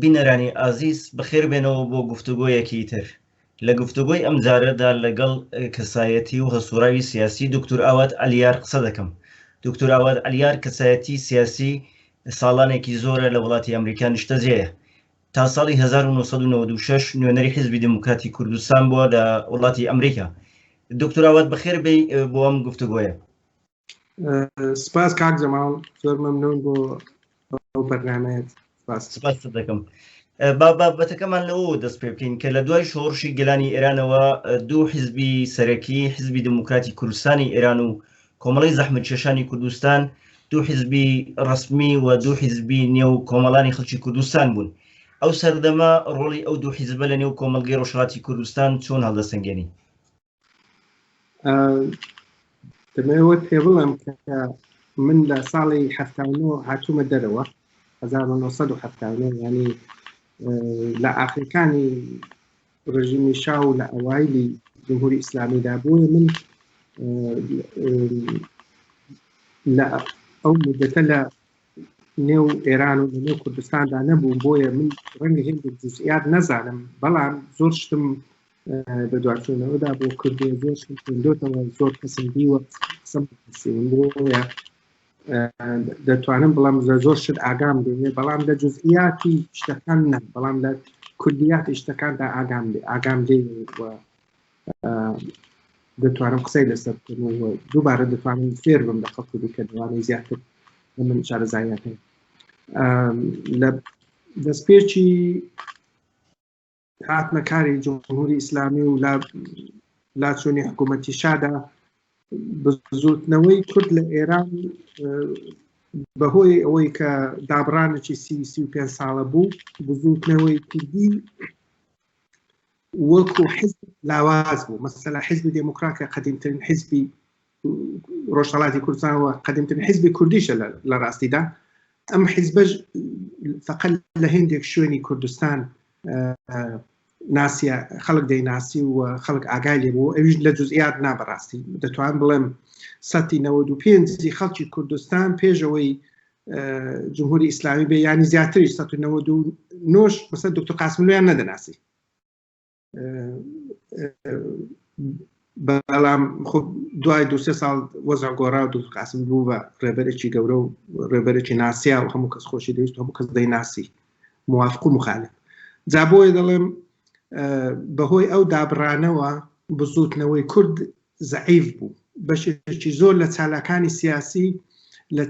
بینەرانی ئازیز بەخێربێنەوە بۆ گفتوگۆیەکی تر لە گفتوگۆی ئەم جارەدا لەگەڵ کەسایەتی و هەسوراوی سیاسی دکتور ئاوات ئەلیار قسە دەکەم دکتور ئاوات ئەلیار کەسایەتی سیاسی ساڵانێکی زۆرە لە وڵاتی ئەمریکا نیشتەجێە تا ساڵی 1996 نوێنەری حزبی دموکراتی کوردستان بووە لە وڵاتی ئەمریکا دکتوراوات بەخێربی بۆ ئەم گفتوگۆیە سپاس کاک جەماڵ زۆر مەمنون بۆ ئەو بەرنمەیەت سپاست دەکەم با بابەتەکەمان لەوە دەست پێ بکەین کە لە دوای شۆڕشی گەلانی ئێرانەوە دوو حزبی سەرەکی حزبی دموکراتی کوردستانی ئێران و کۆمەڵی زەحمت کێشانی کوردستان دوو حزبی ڕسمی و دوو حزبی نێو کۆمەڵانی خەڵکی کوردستان بوون ئەو سەردەمە ڕۆڵی ئەو دوو حیزبە لە نێو کۆمەلگەی ڕۆژهاتی کوردستان چۆن هەڵدەسەنگێنی دەمەوە پێ بڵم من لە ساڵی ه هاتوومە دەرەوە 1970 ینی لە ئاخرەکانی ڕژیمی شا و لە ئەوایلی جمهوری ئیسلامیدا بووە من لە ئەو مدەتە لە نێو ئێران و نێو کوردستاندا نەبوو بۆیە من ڕەنگە هێندێک جزئات نەزانم بەڵام زۆر شتم بەدواچوونەوەدا بۆ کردێ زۆر خوێندۆتەوە زۆر کەسم دیوە قسەم بۆە دەتوانم بڵام زە زۆر شت ئاگام بێنێ بەڵام لە جزئیاتی شتەکان نە بەڵام لە کوردیاتی شتەکاندا ئاگام لێ ئاگام لێ دەتوانم قسەی لەسەر دووبارە دەتوانم فێر بم لە خەڵکی دیکە دوانەی زیاتر من شارەزایەکە لە دەستپێکی هاتنە کاری جمهوری ئیسلامی و لاچوونی حکوومەتی شادا بزوتنەوەی کورد لە ئێران بەهۆی ئەوەی کە دابرانێکی سی پێ ساڵە بوو بزوتنەوەی کوردی وەکو حزب لاواز بوو مەسەلا حزبی دموکراتیا قدیمترین حزبی ڕۆژهەڵاتی کوردستان و قەدمترین حیزبی کوردیشە لە ڕاستیدا ئەم حیزبەش فقل لە هندێک شوێنی کوردستان ناسیە خەڵک دەیناسی و خەڵک ئاگای لێ بوو ئەویش لە جزئات نابڕاستی دەتوان بڵێم سەتی 95 خەڵکی کوردستان پێشەوەی جمهوری ئیسلامی بێ ینی زیاتری 1990 نۆش بەسەر دکتور قاسملیان نەدەناسی بەڵام خب دوای دو سێ ساڵ وەزع گۆڕا و دوست قاسم بوو بە ڕێبەرێکی گەورە و ڕێبەرێکی ناسیا و هەموو کەس خۆشی دەویست هەموو کەس دەی ناسی موافق و مخالف جابۆی دەڵێم بەهۆی ئەو دابڕانەوە بزوتنەوەی کورد زەعیف بوو بەشێکی زۆر لە چالاکانی سیاسی لە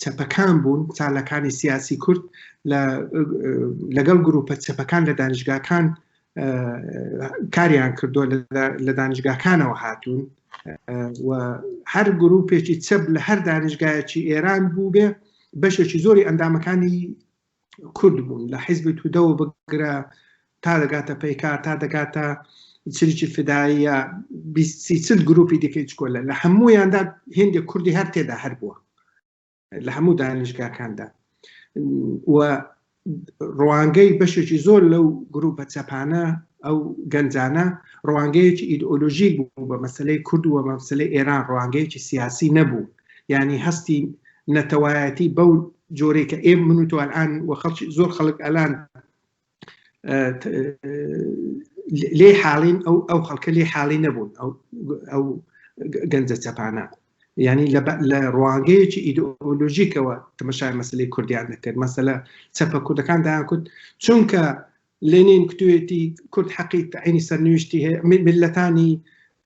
چەپەکان بوون چالەکانی سیاسی کورد لەگەڵ گروپە چەپەکان لە دانیشگاکان کاریان کردو لە دانیشگاکانەوە هاتوون و هەر گروپێکی چەپ لە هەر دانیشگایەکی ئێران بوو بێ بەشێکی زۆری ئەندامەکانی کورد بوون لە حیزبی تودەوە بگرە تا دەگاتە پەیکار تا دەگاتە چریکی فداییە چل گروپی دیکەی چکۆلە لە هەموویاندا هێندێ کوردی هەر تێدا هەر بووە لە هەموو دانیشگاکاندا و ڕوانگەی بەشێکی زۆر لەو گروپە چەپانە ئەو گەنجانە ڕوانگەیەکی ئیدئۆلۆژی بوو بە مەسلەی کورد و مەمسلەی ئێران ڕوانگەیەکی سیاسی نەبوو یعنی هەستی نەتەوایەتی بەو جۆرەی کە ئێم من و تۆ ئەلان و خەڵکی زۆر خەڵک ئەلان لێ حاڵین ئەو ئەو خەڵکە لێ حاڵی نەبوون ئەو ئەو گەنجە چەپانە ینی لە ڕوانگەیەکی ئیدۆلۆژیکەوە تەمەشای مەسلی کوردیان دەکرد مەسەلە چەپە کوردەکان دایان کوت چونکە لێنین کوێتی کورد حەقی تعینی سەرنوشتی هەیە ملەتانی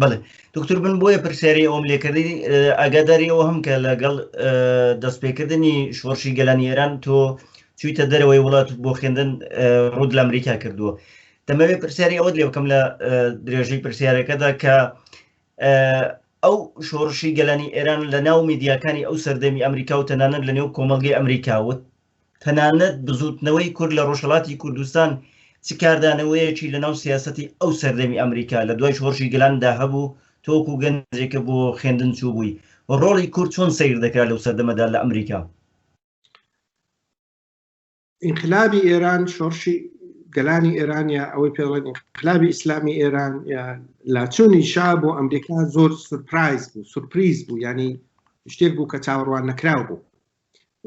بڵێ دکتور بن بۆیە پرسیاری ئەوم لێکردی ئەگەداری ئەوە هەم کە لەگەڵ دەستپێکردنی شۆڕشی گەلانی ئێران تۆ چویتە دەرەوەی وڵات بۆ خوێندن ڕوود لە ئەمریکا کردووە دەمەوێت پرسیاری ئەوە لێ بکەم لە درێژەی پرسیارەکەدا کە ئەو شۆڕشی گەلانی ئێران لە ناو میدیاکانی ئەو سەردەمی ئەمریکا و تەنانەت لە نێو کۆمەلگەی ئەمریکاوت تەنانەت بزوتنەوەی کورد لە ڕۆژهەڵاتی کوردستان چ کاردانەوەیەکی لەناو سیاسەتی ئەو سەردەمی ئەمریکا لە دوای شۆڕشی گەلاندا هەبوو، تۆ وەکو گەنجێک کە بۆ خوێندن چووبووی، ڕۆڵی کورد چۆن سەیر دەکرا لەو سەردەمەدا لە ئەمریکا؟ ئینقلابی ئێران، شۆڕشی گەلانی ئێران یا ئەوەی پێ دەڵێن ئینقلابی ئیسلامی ئێران یا لاچوونی شا بۆ ئەمریکا زۆر سورپرایز بوو، سورپریز بوو، یانی شتێک بوو کە چاوەڕوان نەکراو بوو.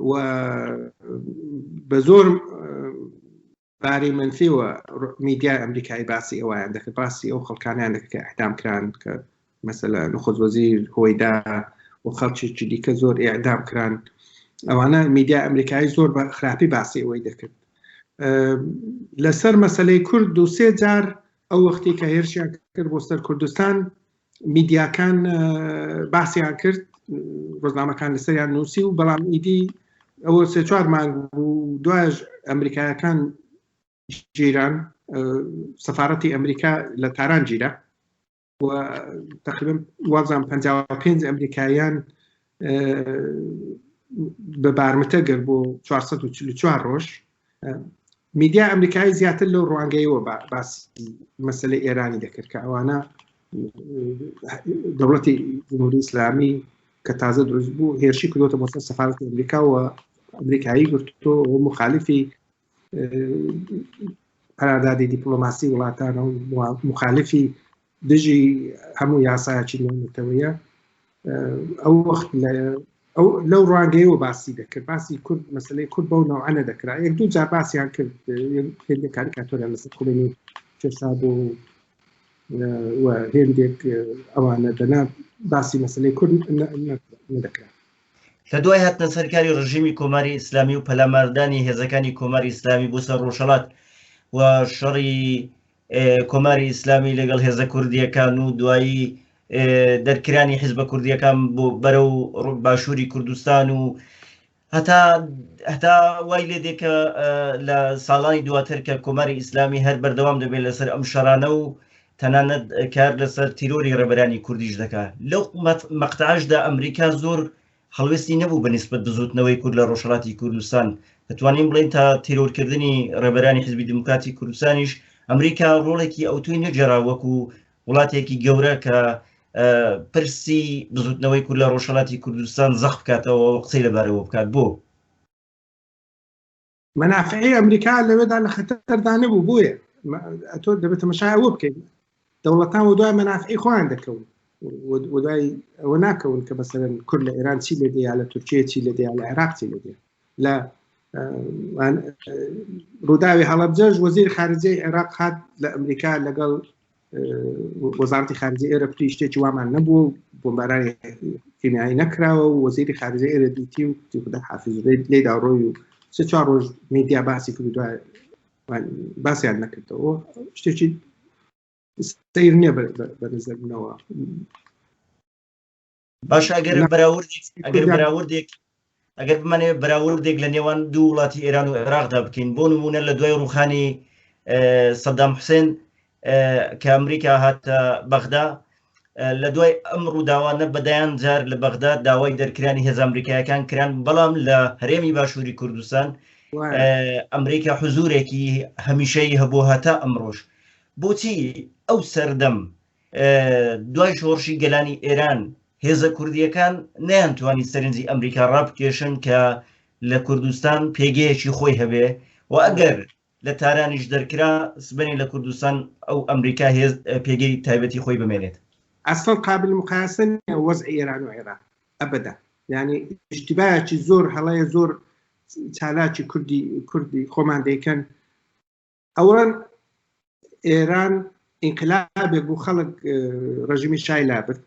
و بە زۆر باری منفیەوە میدیای ئەمریکای باسی ئەویان دەکە باسی ئەو خەڵکانیان دەکە کە ئەحدام کران کە مەسەلا نخۆز وەزیر هۆیدا و خەڵکیی دیکە زۆر ئێعدام کران ئەوانە میدیا ئەمریکایی زۆر بە خراپی باسی ئەوەی دەکرد لەسەر مەسلەی کورد دوسێ جار ئەو وەختی کە هێرشیان کرد بۆ سەر کوردستان میدیاکان باسیان کرد ڕۆژنامەکان لەسەریان نووسی و بەڵام ئیدی ئەوە سێ چوار مانگ بوو دوایش ئەمریکایەکان جیران سەفاەتی ئەمریکا لە تاران جیرە تقریبا وازان 55 ئەمریکایان بە بارمتە گەر بۆ 444 ڕۆژ میدیا ئەمریکایی زیاتر لەو ڕوانگەیەوە باس مەسلە ئێرانی دەکرد کە ئەوانە دەوڵەتی جمهوری ئیسلامی کە تازە دروست بوو هێرشی کردوتە بۆ سەفاەتی ئەمریکاوە ئەمریکایی گرتۆ و مخالیفی قەراردادی دیپلۆماسی وڵاتانە و مخالفی دژی هەموو یاسایەکی نەتەوەیە ئەو وەخت ئەو لەو ڕانگەیەوە باسی دەکرد باسی کورد مەسلەی کورد بەو ناوانە دەکرا یەک دوو جار باسییان کرد هێندێک کاریکاتۆرە لەسەر کوێنی پێسا بۆ هێندێک ئەوانە دەنا باسی مەسلەی کورد دەکرا لە دوای هاتنە سەرکاری ڕژیمی کۆماری ئیسلامی و پەلاماردانی هێزەکانی کۆماری ئیسلامی بۆ سەر ڕۆژهڵات و شەڕی کۆماری ئیسلامی لەگەڵ هێزە کوردیەکان و دوایی دەرکرانی حیزبە کوردیەکان بۆ بەرە و باشووری کوردستان و هەتا هەتا وای لێ دێکە لە ساڵانی دواتر کە کۆماری ئیسلامی هەر بەردەوام دەبێت لەسەر ئەم شەرانە و تەنانەت کار لەسەر تیرۆری ڕێبەرانی کوردیش دەکا لەو مەقتعشدا ئەمریکا زۆر هەڵوێستی نەبوو بە نسبت بزوتنەوەی کورد لە ڕۆژهڵاتی کوردستان دەتوانین بڵین تا تیرۆرکردنی ڕێبەرانی حزبی دموکراتی کوردستانیش ئەمریکا ڕۆڵێکی ئەوتوی نەجێرا وەکو وڵاتێکی گەورە کە پرسی بزوتنەوەی کورد لە ڕۆژهڵاتی کوردستان زەخ بکاتەوە قسەی لەبارەوە بکات بۆ منافعی ئەمریکا لەوێدا لە خەتەردا نەبوو بۆیە تۆ دەبێت تەمەشای ئەوە بکەین دەوڵەتان و دوای منافعی خۆیان دەکەون ودای ئەوە ناکەون کە بەسەرن کورد لە ئێران چی لێ دەیا لە تورکیە چی لە دەیا لە عێراق چی لە دێ لە ڕووداوی هەڵبجەش وەزیر خارجەی عێراق هاات لە ئەمریکا لەگەڵ وەزارتی خارجی ئێرە پری شتێکی وامان نەبوو بۆمبارانی کیمیایی نەکراوە و وەزیری خارجی ئێرە دیتی و تیخدا حافز لێ داڕۆی و چ چوار ڕۆژ میدیا باسی کرد باسیان نەکردەوە شتێکی سیر نییە بە نظرنەوە باش ئەگەر بەراوردێک ئەگەر بەراوردێک ئەگەر بمانێ بەراوردێک لە نێوان دوو وڵاتی ئێران و عێراقدا بکەین بۆ نمونە لە دوای ڕوخانی سەدام حوسێن کە ئەمریکا هاتە بەغدا لە دوای ئەم ڕووداوانە بەدایان جار لە بەغدا داوای دەرکرانی هێز ئەمریکایەکان کران بەڵام لە هەرێمی باشووری کوردستان ئەمریکا حزورێکی هەمیشەی هەبوو هەتا ئەمڕۆژ بۆچی ئەو سەردەم دوای شۆڕشی گەلانی ئێران هێزە کوردییەکان نەیانتوانی سەرنجی ئەمریکا ڕابکێشن کە لە کوردستان پێگەیەکی خۆی هەبێ و ئەگەر لە تارانیش دەرکرا سبەنی لە کوردستان ئەو ئەمریکا هێز پێگەی تایبەتی خۆی بمێنێت ئەسڵ قابل مقایسە وەز ئێران و عێراق ئەبدا یعنی اشتباهی زۆر هەڵەیە زۆر چالاکی کوردی کوردی خۆمان دەیکەن ئەوان ئێران ئینقلابێک بوو خەڵک ڕژیمی شای لابرد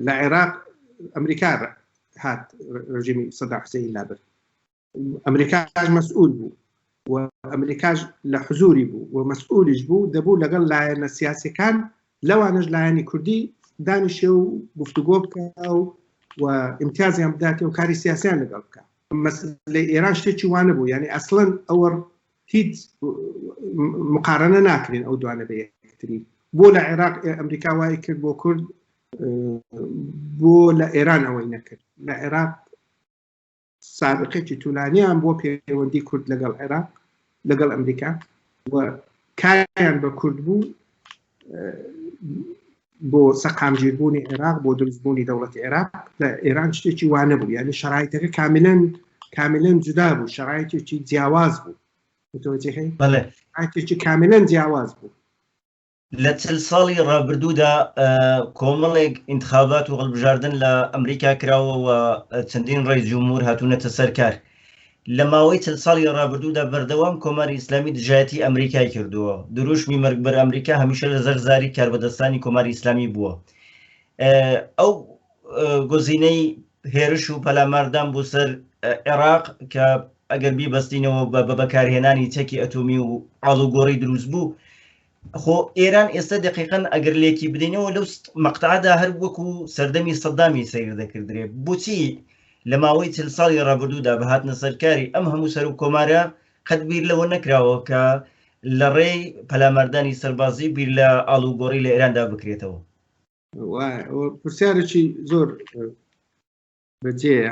لە عێراق ئەمریکا هات ڕژیمی سەدا حسین لابرد ئەمریکاش مەسئول بوو و ئەمریکاش لە حزوری بوو و مەسئولیش بوو دەبوو لەگەڵ لایەنە سیاسەکان لەوانەش لایەنی کوردی دانیشێ و گفتوگۆ بکە و و امتیازیان بداتێ و کاری سیاسیان لەگەڵ بکە لە ئێران شتێکی وانە بوو یعنی ئەسڵەن ئەوە هیچ مقارنە ناکرێن ئەو دوانە بە یەکتری بۆ لە عێراق ئەمریکا وای کرد بۆ کورد بۆ لە ئێران ئەوەی نەکرد لە عێراق سابقێکی تولانیان بۆ پێوەندی کورد لەگەڵ عێراق لەگەڵ ئەمریکا و کاریان بە کورد بوو بۆ سەقامگیربوونی عێراق بۆ دروستبوونی دەوڵەتی عێراق لە ئێران شتێکی وانە بوو یعنی شرایتەکە کاملەن کاملەن جودا بوو شرایتێکی جیاواز بوو متوجهی بەڵێ ئاتێکی کاملەن جیاواز بوو لە چل ساڵی ڕابردوودا کۆمەڵێک ئینتخابات و هەڵبژاردن لە ئەمریکا کراوە و چەندین ڕێی جمهور هاتوونەتە سەرکار لە ماوەی چل ساڵی ڕابردوودا بەردەوام کۆماری ئیسلامی دژایەتی ئەمریکای کردووە دروشمی مەرگبەر ئەمریکا هەمیشە لە زەرزاری کاربەدەستانی کۆماری ئیسلامی بووە ئەو گۆزینەی هێرش و پەلاماردان بۆ سەر عێراق کە ئەگەر بیبەستینەوە بە بە بەکارهێنانی چەکی ئەتۆمی و ئاڵوگۆڕی دروست بوو خۆ ئێران ئێستا دقیقەن ئەگەر لێکی بدەینەوە لەو مەقتعدا هەر وەکو سەردەمی سەدامی سیر دەکردرێ بچی لە ماوەی چل ساڵی ڕابردوودا بەهاتنە سەرکاری ئەم هەموو سەر و کۆمارە قەت بیر لەوە نەکراوە کە لە ڕێی پەلاماردانی سەربازی بیر لە ئاڵوگۆڕی لە ئێراندا بکرێتەوە پرسیارێکی زۆر بەجێە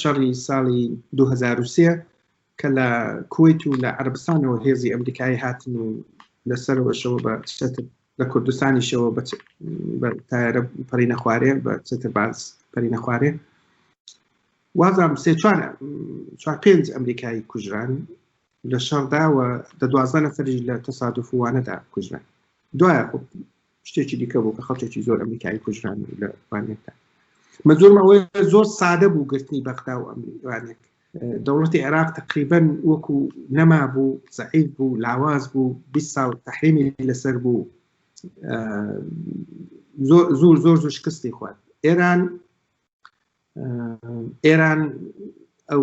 شەڕی ساڵی 2023 کە لە کویت و لە عربستانەوە هێزی ئەمریکایی هاتن و لەسەرەوەشەوە بە چەتر لە کوردستانیشەوە بە تارە پەری نەخوارێ بە چەتر باز پەری نەخوارێ وازام سێ چوار چوار پێنج ئەمریکایی کوژران لە شەڕداوە دە دوازدە نەفری لە تەسادفوانەدا کوژران دوایە خۆ شتێکی دیکە بوو کە خەڵکێکی زۆر ئەمریکایی کوژران لە وانێکدا من زۆر ئەوەی زۆر سادە بوو گرتنی بەغدا و ئەمریکانێک دەوڵەتی عێراق تقریبن وەکو نەما بوو زعیف بوو لاواز بوو 20 ساڵ تحریمی لەسەر بوو زۆر زۆر زۆر زۆر شکستی خوارد ئێران ئێران ئەو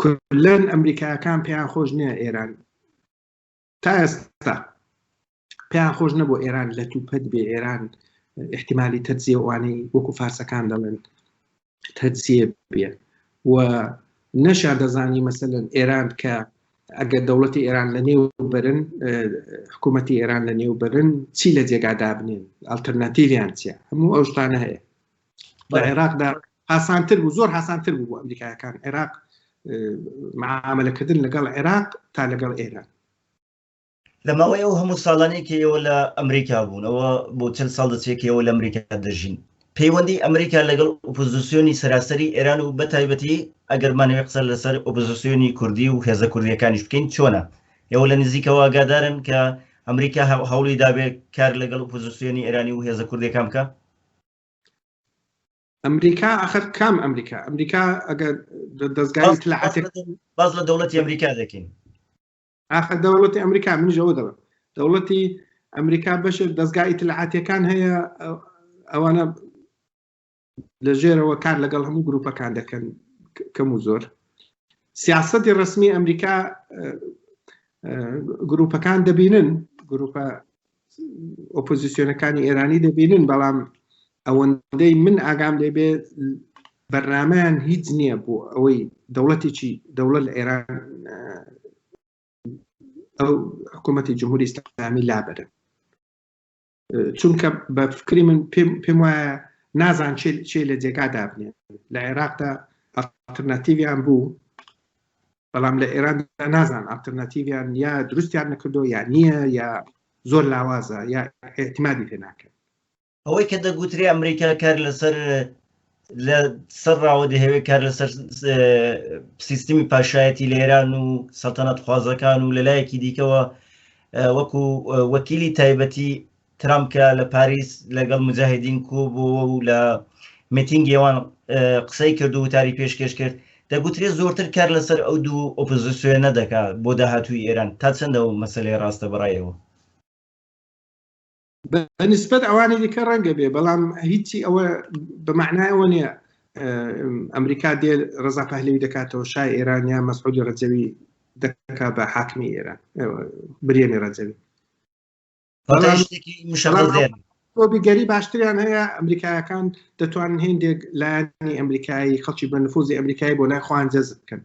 کلەن ئەمریکاکان پێیان خۆش نییە ئێران تا ئێستا پێیان خۆش نەبوو ئێران لە توپەت بێ ئێران احتیممالی تەجزیێوانەی وەکو فارسەکان دەڵێن تەجزیە بێ و نەشا دەزانی مەسەن ئێران کە ئەگەر دەوڵەتی ئێران لە نێو برن حکوومەتتی ئێران لە نێو برن چی لە جێگادا بنێن ئەلتەرناتیویان چیە هەموو ئەو شتانە هەیە لە عێراقدا هاسانتر بوو زۆر هاسانتر بوو بۆ ئەمریکایەکان عێراق معاملەکردن لەگەڵ عێراق تا لەگەڵ ئێرە لە ماوەی ئەو هەموو ساڵانێکەوە لە ئەمریکا بوونەوە بۆ چەند ساڵ دەچێکەوە لە ئەمریکا دەژین پەیوەندی ئەمریکا لەگەڵ ئۆپۆزیسیۆنی سەراسەری ئێران و بە تایبەتی ئەگەرمانەوەی قسە لەسەر ئۆپۆزیسیۆنی کوردی و هێزە کوردیەکانیش بکەین چۆنە ئێوە لە نزیکەوە ئاگادارن کە ئەمریکا هەوڵی دابێت کار لەگەڵ ئۆپۆزیسیۆنی ئێرانی و هێزە کوردەکان بکە ئەمریکا ئەخر کام ئەمریکا ئەمریکا ئەگەر دەستگای تلاعاتێک باز لە دەوڵەتی ئەمریکا دەکەین ئاخە دەوڵەتی ئەمریکا منیشەوە دەڵم دەوڵەتی ئەمریکا بەش دەستگای تلاعاتەکان هەیە ئەوانە لە ژێرەوە کار لەگەڵ هەموو گروپەکان دەکەن کەم و زۆر سیاستی ڕسمی ئەمریکا گروپەکان دەبینن گروپە ئۆپۆزیسیۆنەکانی ئێرانی دەبینن بەڵام ئەوەندەی من ئاگام لێبێ بەرنمەیان هیچ نییە بۆ ئەوەی دەوڵەتێکی دەوڵەت لە ئێران ئەو حکوومەتی جمهوری ئسلامی لابرن چونکە بە فکری من پێم وایە نازان چێ لە جێگا دابنێ لە عێراقدا ئەترناتیویان بوو بەڵام لە ئێران نازان ئاڵتەرناتیویان یا دروستیان نەکردو یا نییە یا زۆر لاوازە یا احتیمادی پێ ناکەن ئەوەی کە دەگوترێ ئەمریکا کار لەسەر لە سەر ڕاوە دەهەوێت کار لەسەر سیستمی پاشایەتی لە ئێران و سەلتەنەت خوازەکان و لەلایەکی دیکەوە وەکو وەکیلی تایبەتی ترەمپ کە لە پاریس لەگەڵ موجاهیدین کۆبووەوە و لە میتینگی ئەوان قسەی کرد و وتاری پێشکەش کرد دەگوترێت زۆرتر کار لەسەر ئەو دوو ئۆپۆزیسیۆنە دەکات بۆ داهاتووی ئێران تا چەندە و مەسەلەی ڕاستە بەڕایەوە بەنسبەت ئەوانی دیکە ڕەنگە بێ بەڵام هیچی ئەوە بە معنایەوە نییە ئەمریکا دێ ڕزا پەهلوی دەکاتەوە شای ئێران یا مەسعودی ڕەجەوی دەکا بە حاکمی ئێران برێنی ڕەجەوی کۆبیگەری باشتریان هەیە ئەمریکایەکان دەتوانن هێندێک لایانی ئەمریکایی خەڵکی بە نفوزی ئەمریکایی بۆ لای خوان جەز بکەن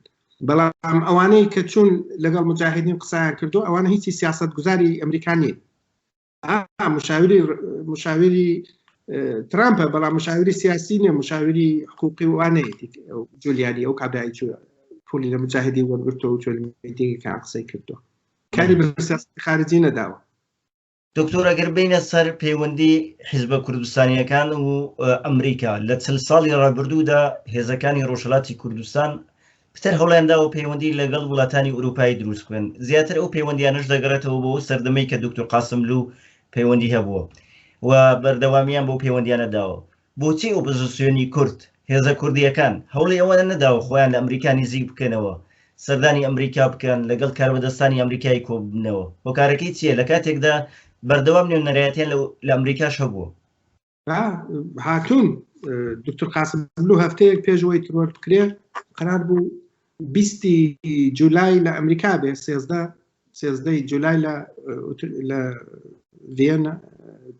بەڵام ئەوانەی کە چوون لەگەڵ مجاهدین قسان کردو ئەوانە هیچی سیاست گوزاری ئەمریکانی مشاوری مشاوری ترامپە بەڵام مشاوری سیاسی نیە مشاوری حقوقی وانەیە جولیانی ئەو کابرای پولی لە مجاهدی وەرگرتەوە چۆنیەکان قسەی کردو کاری بە سیاسەتی خارجی نەداوە دکتۆر ئەگەر بینە سەر پەیوەندی حیزبە کوردستانیەکان و ئەمریکا لە چل ساڵی ڕابردوودا هێزەکانی ڕۆژهڵاتی کوردستان پتر هەڵێندا و پەیوەندی لەگەڵ وڵاتانی ئوروپایی دروست بن زیاتر ئەو پەیوەندیانش دەگەڕێتەوە بۆ سەردەمەی کە دکتۆر قاسملو پەیوەندی هەبووە و بەردەوامیان بۆ پەیوەندیانە داوە بۆچی ئۆپۆزسیۆنی کورد، هێزە کوردییەکان، هەوڵی ئەوەیان نەداوە خۆیان لە ئەمریکا نیزیک بکەنەوە، سەردانی ئەمریکا بکەن، لەگەڵ کاربەدەستانی ئەمریکایی کۆببنەوە؟ هۆکارەکەی چییە، لە کاتێکدا بەردەوام نوێنەرایەتیان لە ئەمریکاش هەبووە؟ هاتوون، دوکتور قاسملوو هەفتەیەک پێش ئەوەی ترۆر بکرێ، قەرار بوو بیست ی جولای لە ئەمریکا بێ، سێزدە سێزدە ی جولای لە ڤییەنا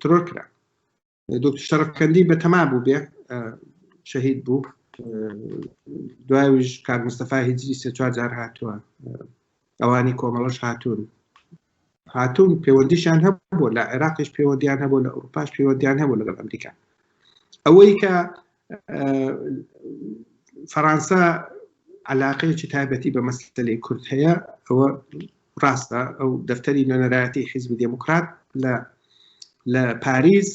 ترۆر کرا. دکتر شەرفکەندی بە تەما بوو بێ شەهید بوو دوایش کار مستەفا هیجری سێ چوار جار هاتووە ئەوانی کۆمەڵەش هاتوون هاتوون پەیوەندیشان هەبوو لە عێراقش پەیوەندیان هەبوو لە ئەوروپاش پەیوەندیان هەبوو لەگەڵ ئەمریکا ئەوەی کە فەرانسە علاقەیەکی تایبەتی بە مەسلەی کورد هەیە ئەوە ڕاستە ئەو دەفتەری نوێنەرایەتی حیزبی دموکرات لە لە پاریس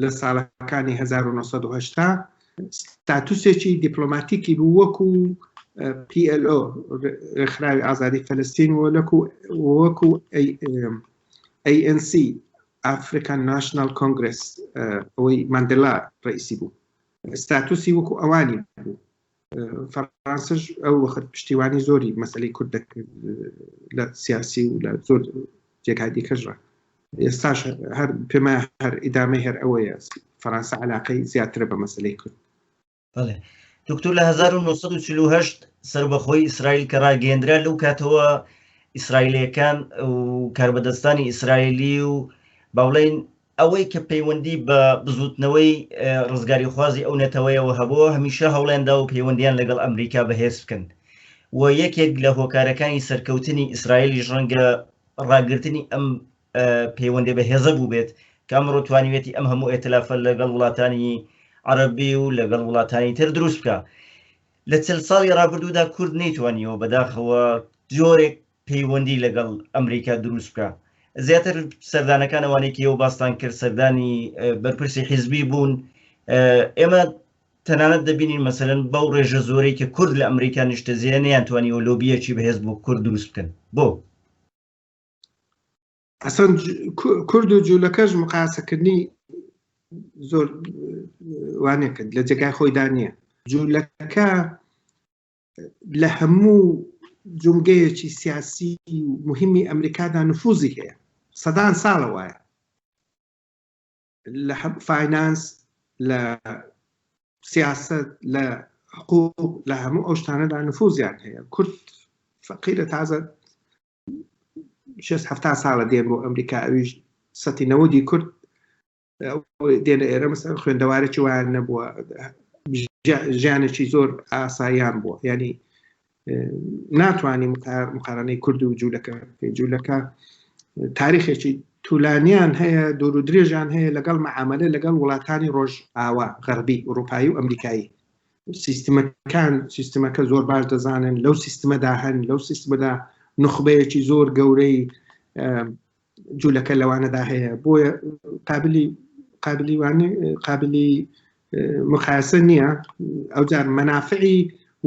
لە ساڵەکانی 1970 ستاتوسێکی دیپلۆماتیکی بوو وەکو PLO ڕێکخراوی ئازادی فەلستین وەکو وەکو ANC ئافریکان ناشناڵ کۆنگرێس ئەوەی ماندێلا ڕئیسی بوو ستاتوسی وەکو ئەوانی بوو فەرانسش ئەو وەخت پشتیوانی زۆری مەسلی کورد دەکرد لە سیاسی و لە زۆر جێگای دیکەژڕە ئێستاش هەر پێما هەر ئیدامە هەر ئەوەیە فەرانسە علاقەی زیاترە بە مەسلەی کورد بەڵێ دکتور لە 1940 سربەخۆی ئیسرائیل کە ڕاگەندرا لەو کاتەوە ئیسرائیلەکان و کاربەدەستانی ئیسرائیلی و باڵین ئەوەی کە پەیوەندی بە بزوتنەوەی ڕزگاری خوازی ئەو نەتەوەیەوە هەبووە هەمیشە هەوڵێندا و پەیوەندیان لەگەڵ ئەمریکا بەهێز بکەن و یەکێک لە هۆکارەکانی سەرکەوتنی ئیسرائیلی ڕەنگە ڕاگررتنی ئەم پەیوەندی بە هێزە بووبێت کە ئەمڕۆ توانیوێتی ئەم هەموو ئێتلافە لەگەڵ وڵاتانی عەرەبی و لەگەڵ وڵاتانی تر دروست بکە لە چل ساڵی ڕابردوودا کورد نەیتوانیەوە بەداخەوە جۆرێک پەیوەندی لەگەڵ ئەمریکا دروست بکە زیاتر سەردانەکان ئەوانێکی ئەو باستان کرد سەردانی بەرپرسی حیزبی بوون ئێمە تەنانەت دەبینین مەسەرن بەو ڕێژە زۆرەی کە کورد لە ئەمریکا نیشتە زیێنیان توانیەوە لۆبیەکی بەهێز بۆ کورد دروست بکەن بۆ ئەسەن کورد و جوولەکەش مقاسەکردنی زۆر وانێ کرد لە جێگای خۆیدا نییە جوولەکە لە هەموو جومگەیەکی سیاسی مهمی ئەمریکادا نفوزی هەیە سەدان ساڵە وایە لە فینانس لە سیاست لە حقوق لە هەموو ئەو شتانەدا نفوزیان هەیە کورد فەقیرە تازە شێست هەفتا ساڵە دێ بۆ ئەمریکا ئەویش سەتی نەوەدی کورد دێنە ئێرە مەسەر خوێندەوارێکی وایان نەبووە ژیانێکی زۆر ئاساییان بووە ینی ناتوانانی مقارانەی کورد و جوولەکە جوولەکە تاریخێکی تولانیان هەیە دور و درێژان هەیە لەگەڵ مەعاملە لەگەڵ وڵاتانی ڕۆژ ئاوا غەربی ئوروپایی و ئەمریکایی سیستمەکان سیستمەکە زۆر باش دەزانن لەو سیستمەدا هەن لەو سیستمەدا نخبەیەکی زۆر گەورەی جوولەکە لەوانەدا هەیە بۆیە قابلی قابلی وانە قابلی مخاسە نییە ئەو جار مەنافعی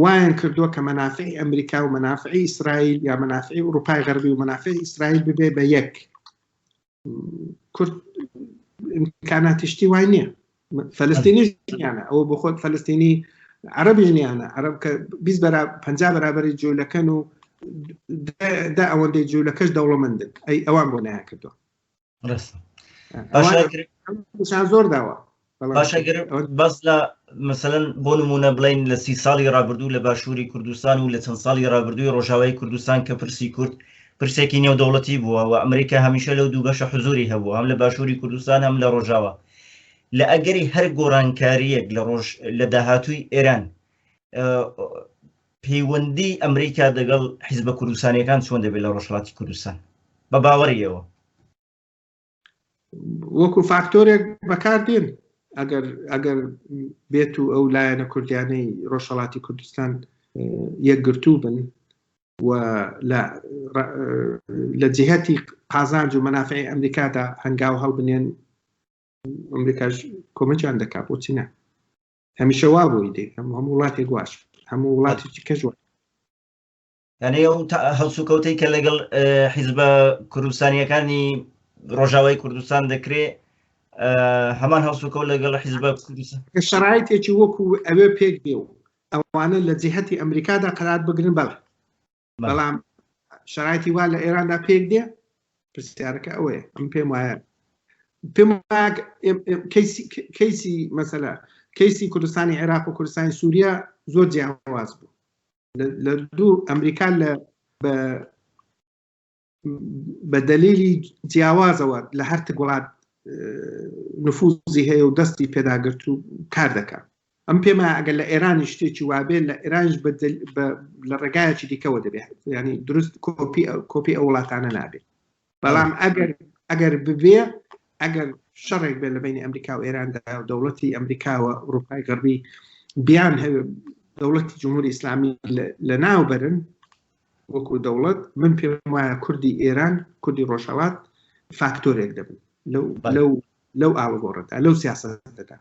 وایان کردووە کە مەنافعی ئەمریکا و مەنافعی ئیسرائیل یا مەنافعی ئوروپای غەربی و مەنافعی ئیسرائیل ببێ بە یەک کورد کاناتیشتی وای نییە فلستینی ژنیانە ئەوە بۆ خۆت فلستینی عربی ژنیانە عرب کە پ بەرابری جوولەکەن و دا ئەوەندەی جوولەکەش دەوڵەمەندن ئەی ئەوان بۆ نایان کردو زۆر داوە باشە گەر باس لە مەسەلەن بۆ نموونە بڵێین لە سی ساڵی ڕابردوو لە باشووری کوردستان و لە چەند ساڵی ڕابردووی ڕۆژاوای کوردستان کە پرسی کورد پرسێکی نێودەوڵەتی بووە و ئەمریکا هەمیشە لەو دوو بەشە حزوری هەبوو هەم لە باشووری کوردستان هەم لە ڕۆژاوە لە ئەگەری هەر گۆڕانکاریەک لە ڕۆژ لە داهاتووی ئێران پەیوەندی ئەمریکا دەگەڵ حیزبە کوردستانەکان چۆن دەبێت لە ڕۆژهڵاتی کوردستان بە باوەڕیەوە وەکو فاکتۆرێک بەکاردێن ئەگەر ئەگەر بێت و ئەو لایەنە کوردیانەی ڕۆژهڵاتی کوردستان یەکگرتوو بن و لە جهتی قازانج و منافعی ئەمریکادا هەنگاو هەڵبنێن ئەمریکاش کۆمەجان دەکات بۆچی نە هەمیشە وا بۆی دێ هەموو هەموو وڵاتێک واش هەموو وڵاتێکی کەژوە یانەی ئەو هەڵسوکەوتەی کە لەگەڵ حیزبە کوردستانیەکانی ڕۆژاوای کوردستان دەکرێ هەمان هەڵسوکە لەگەڵ حیزبە شرایتێکی وەکو ئەوێ پێک دێ و ئەوانە لە جیهەتی ئەمریکادا قرار بگرن بەڵ بەڵام شرایتی وا لە ئێراندا پێک دێ پرسیارەکە ئەوەیە ئەم پێم وایە پێم کەیسی مەسەلا کەیسی کوردستانی عێراق و کوردستانی سووریا زۆر جیاواز بوو لە دوو ئەمریکا لە بە دەلیلی جیاوازەوە لە هەر تگوڵات نفوزی هەیە و دەستی پێداگرت و کار دەکە ئەم پێما ئەگەر لە ئێرانی شتێکی وابێت لە ئێرانش لە ڕێگایەکی دیکەەوە دەبێت ینی دروست کۆپی کۆپی ئەو وڵاتانە نابێت بەڵام ئەگەر ئەگەر ببێ ئەگەر شەڕێک بێت لە بینی ئەمریکا و ئێراندا و دەوڵەتی ئەمریکاوە ئوروپای غەربی بیان هەوێ دەوڵەتی جمهوری ئیسلامی لە ناو بەرن وەکو دەوڵەت من پێم وایە کوردی ئێران کوردی ڕۆژهڵات فاکتۆرێک دەبن لەو لەو لەو ئاڵگۆڕدا لەو سیاستدا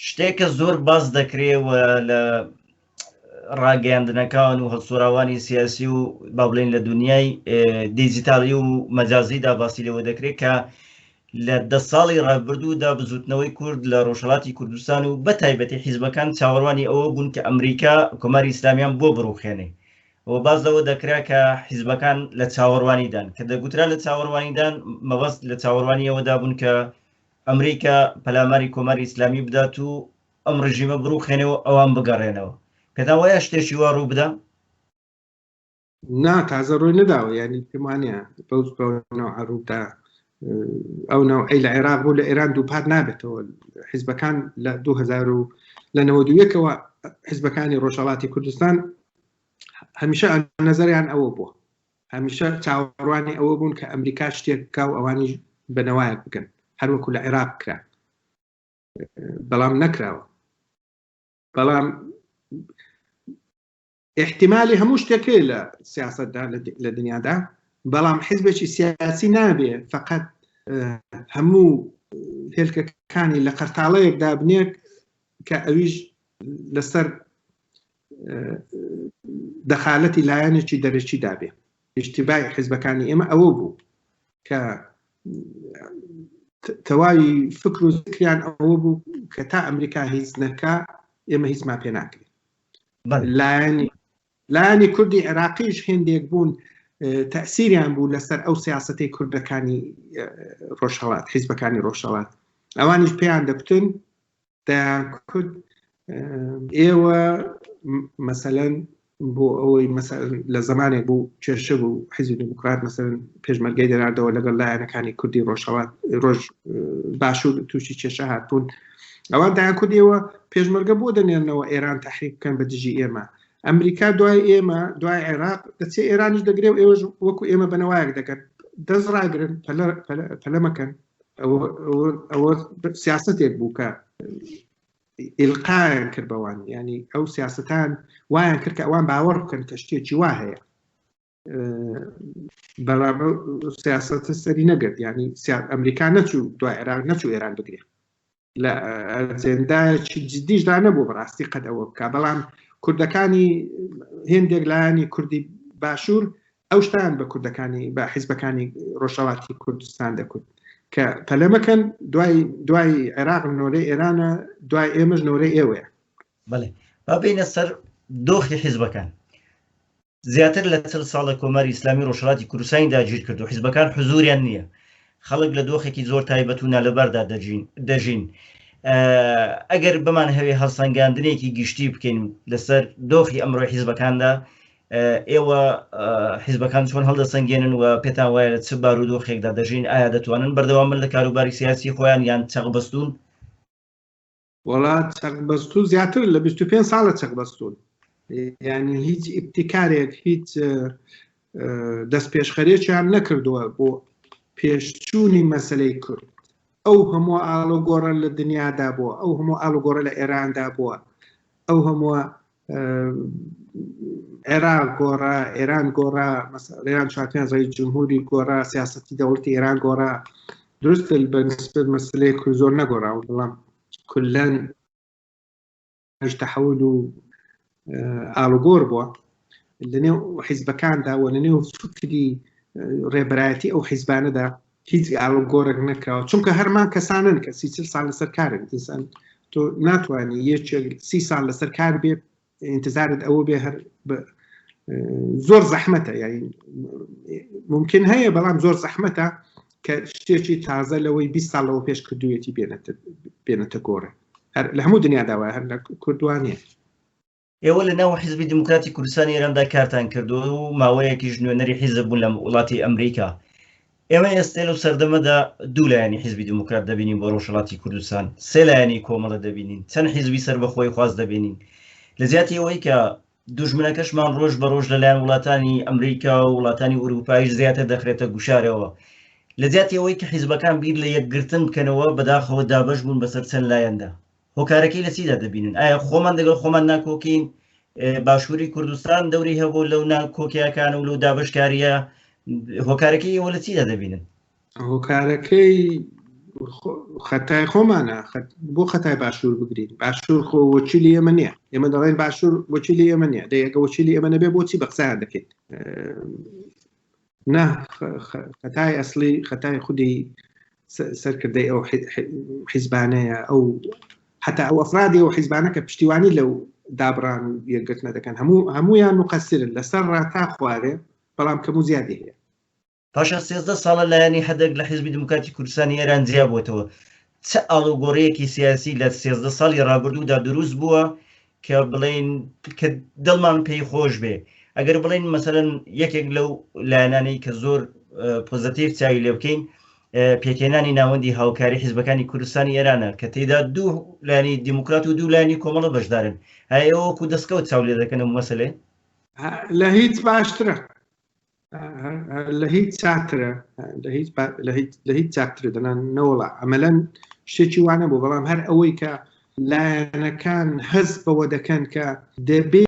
شتێک کە زۆر باس دەکرێ و لە ڕاگەیاندنەکان و هەڵسوراوانی سیاسی و با بڵێن لە دنیای دیجیتالی و مەجازیدا باسی لەوە دەکرێت کە لە دە ساڵی ڕابردوودا بزوتنەوەی کورد لە ڕۆژهڵاتی کوردستان و بە تایبەتی حیزبەکان چاوەڕوانی ئەوە بوون کە ئەمریکا کۆماری ئیسلامیان بۆ بڕوخێنێ و باز لەوە دەکرا کە حیزبەکان لە چاوەڕوانیدان کە دەگوترا لە چاوەڕوانیدان مەبەست لە چاوەڕوانیەوەدا بوون کە ئەمریکا پەلاماری کۆماری ئیسلامی بدات و ئەم ڕژیمە بڕوخێنێ و ئەوان بگەڕێنەوە پێتان وایە شتێکی وا ڕوو بدا؟ نا تازە ڕووی نەداوە یعنی پێم وانە بەو ڕوودا ئەو ناو ئەی لە عێراق بوو لە ئێران دووپات نابێتەوە حیزبەکان لە 2000 و لە 91ەوە حیزبەکانی ڕۆژهڵاتی کوردستان هەمیشە نظریان ئەوە بووە هەمیشە چاوەڕوانی ئەوە بوون کە ئەمریکا شتێک بکا و ئەوانیش بنەوایەک بکەن هەروەکو لە عێراق کرا بەڵام نەکراوە بەڵام احتیممالی هەموو شتێکێ لە سیاستدا لە دنیادا بەڵام حزبێکی سیاسی نابێ فقط هەموو هێلکەکانی لە قەرتاڵەیەک دابنێک کە ئەویش لەسەر دەخالەتی لایەنێکی دەرەکی دابێ ئیشتیبای حزبەکانی ئێمە ئەوە بوو کە تەواوی فکر و زکریان ئەوە بوو کە تا ئەمریکا هیچ نەکە ئێمە هیچمان پێ ناکرێت لایەنی لایەنی کوردی عێراقیش هێندێک بوون تەسیریان بوو لەسەر ئەو سیاستەی کوردەکانی ڕۆژهڵات حیزبەکانی ڕۆژهڵات ئەوانیش پێیان دەکوتن دەیانکوت ئێوە مەسەلەن بۆ ئەوەی لە زمانێک بوو کێشە بوو حیزی دموکرات مەسەن پێشمەرگەی دەناردەوە لەگەڵ لایەنەکانی کوردی ڕۆژهوات ڕۆژ باشوور تووشی کێشە هاتبوون ئەوان دایان کوردیەوە پێشمەرگە بۆ دەنێنەوە ئێران تحریک بکەن بە دژی ئێمە ئەمریکا دوای ئێمە دوای عێراق دەچێ ئێرانیش دەگرێ و ئێوەش وەکو ئێمە بنەوایەک دەکەن دەست ڕاگرن پەلەمەکەن ئەوە سیاستێک بوو کە ئلقایان کرد بەوان ینی ئەو سیاستان وایان کرد کە ئەوان باوەڕ بکەن کە شتێکی وا هەیە بەڵام سیاستە سەری نەگرت ینی ئەمریکا نەچوو دوای عێراق نەچوو ئێران بگرێت لە ئەجێندایەکی جددیشدا نەبوو بەڕاستی قەت ئەوە بکە بەڵام کوردەکانی هێندێک لایانی کوردی باشوور ئەو شتان بە کوردەکانی بە حیزبەکانی ڕۆژەڵاتی کوردستان دەکوت کە پەلەمەکەن دوای دوای عێراق نۆرەی ئێرانە دوای ئێمەش نۆرەی ئێوەیە بڵێ با بینە سەر دۆخی حیزبەکان زیاتر لە چل ساڵە کۆماری ئیسلامی ڕۆژهەڵاتی کوردستانی داگیرکرد و حیزبەکان حزووریان نییە. خەڵک لە دۆخێکی زۆر تایبەت و نالەباردا دەژین. ئەگەر بمانهەوێ هەڵسەنگاندنێکی گشتی بکەین لەسەر دۆخی ئەمڕۆی حیزبەکاندا، ئێوە حیزبەکان چۆن هەڵدەسەنگێنن و پێتان وایە لە چ بارودۆخێکدا دەژین، ئایا دەتوانن بەردەوام بن لە کاروباری سیاسی خۆیان یان چەقبەستوون؟ وەڵا چەق بەستوو زیاتر لە 25 ساڵە چەق بەستون ینی هیچ ئیبتیکارێک هیچ دەست پێشخەرێکیان نەکردووە بۆ پێشچوونی مەسلەی کورد ئەو هەموو ئاڵۆگۆڕە لە دنیادا بووە ئەو هەموو ئاڵوگۆڕە لە ئێراندا بووە ئەو هەمووە عێراق گۆڕا ئێران گۆڕا ێران چاتیان ڕێی جمهوری گۆڕا سیاستی دەوڵەتی ئێران گۆڕا درست بەنسبت مەسلەیە کو زۆر نەگۆڕا و بڵام کلەن تەحول و ئالوگۆر بووە لەنێو حیزبەکاندا و لەنێو فکری ڕێبەرایەتی ئەو حیزبانەدا هیچ گاڵو گۆرێک نەکراوە چونکە هەرمان کەسانن کە سی چل سال لەسەر کارن ئینسان تۆ ناتوانانی یەکێک سی سال لەسەر کار بێت انتظارت ئەوە بێ هەر زۆر زەحمەتە یاری ممکن هەیە بەڵام زۆر زەحمەتە کە شتێکی تازە لەوەی 20 ساڵەوە پێش کردوێتی بێنێتە گۆڕێ لە هەموو دنیاداوای هەر لە کوردوانە ئێوە لە ناو حیزبی دیموکراتی کوردستانی ئێراندا کارتان کردو و ماوەیەکیش نوێنەری حیزب بوون لە وڵاتی ئەمریکا ئێمە ئێستێ لەو سەردەمەدا دوو لایەنی حیزبی دیموکرات دەبینین بۆ ڕۆژهڵاتی کوردستان سێ لایەنی کۆمەڵە دەبینین چەند حیزبی سەر بەخۆی خواست دەبینین لە زیاتی ئەوەی کە دوژمنەکەشمان ڕۆژ بە ڕۆژ لەلایەن وڵاتانی ئەمریکا و وڵاتانی ئوروپایش زیاتر دەخرێتە گوشارەوە لە زیاتی ئەوەی کە حیزبەکان بیر لە یەکگرتن بکەنەوە بەداخەوە دابش بوون بەسەر چەند لایەندا هۆکارەکەی لە چیدا دەبینن ئایا خۆمان دەگەڵ خۆمان ناکۆکین باشووری کوردستان دەوری هەبوو لەو ناکۆکیەکان و لەو دابشکاریە هۆکارەکەی ئەوە لە چیدا دەبینن هۆکارەکەی خەتای خۆمانە بۆ خەتای باشوور بگرین باشوور خۆ وەچیلی ئێمە نیە ئێمە دەڵێن باشوور وەچیلی ئێمە نیە دەیەکە وەچیلی ئێمە نەبێ بۆچی بەقسان دەکەیت نا خەتای ئەسلی خەتای خودی سەرکردەی ئەو حیزبانەیە ئەو حتا ئەو ئەفرادی و حیزبانەکە پشتیوانی لەو دابران و یەکگرتنە دەکەن هەموو هەمویان و قەسرن لەسەر ڕاتا خوارێ بەڵام کەم و زیادی هەیە پاشان سێزدە ساڵە لایەنی حدک لە حیزبی دیموکراتی کوردستانی ئێران جیا بۆتەوە چ ئاڵوگۆڕیەکی سیاسی لە سێزدە ساڵی ڕابردوودا دروست بووە کە بڵێن کە دڵمان پێی خۆش بێ ئەگەر بڵێن مەسەرەن یەکێک لەو لایەنانەی کە زۆر پۆزتیف چاوی لێ بکەین پێکێنانی ناوەندی هاوکاری حیزبەکانی کوردستانی ئێرانە کە تێدا دوو لانی دیموکرات و دوو لانی کۆمەڵە بەشدارن هەیەوەکو دەستکەوت چاو لێ دەکەن و مەسلێ لە هیچ باشترە لە هیچ چاترە لە هیچ چاتر دەنان نەوەڵە ئەمەلەن شتێکی وانە بۆ بەڵام هەر ئەوەی کە لایەنەکان هەز بەوە دەکەن کە دەبێ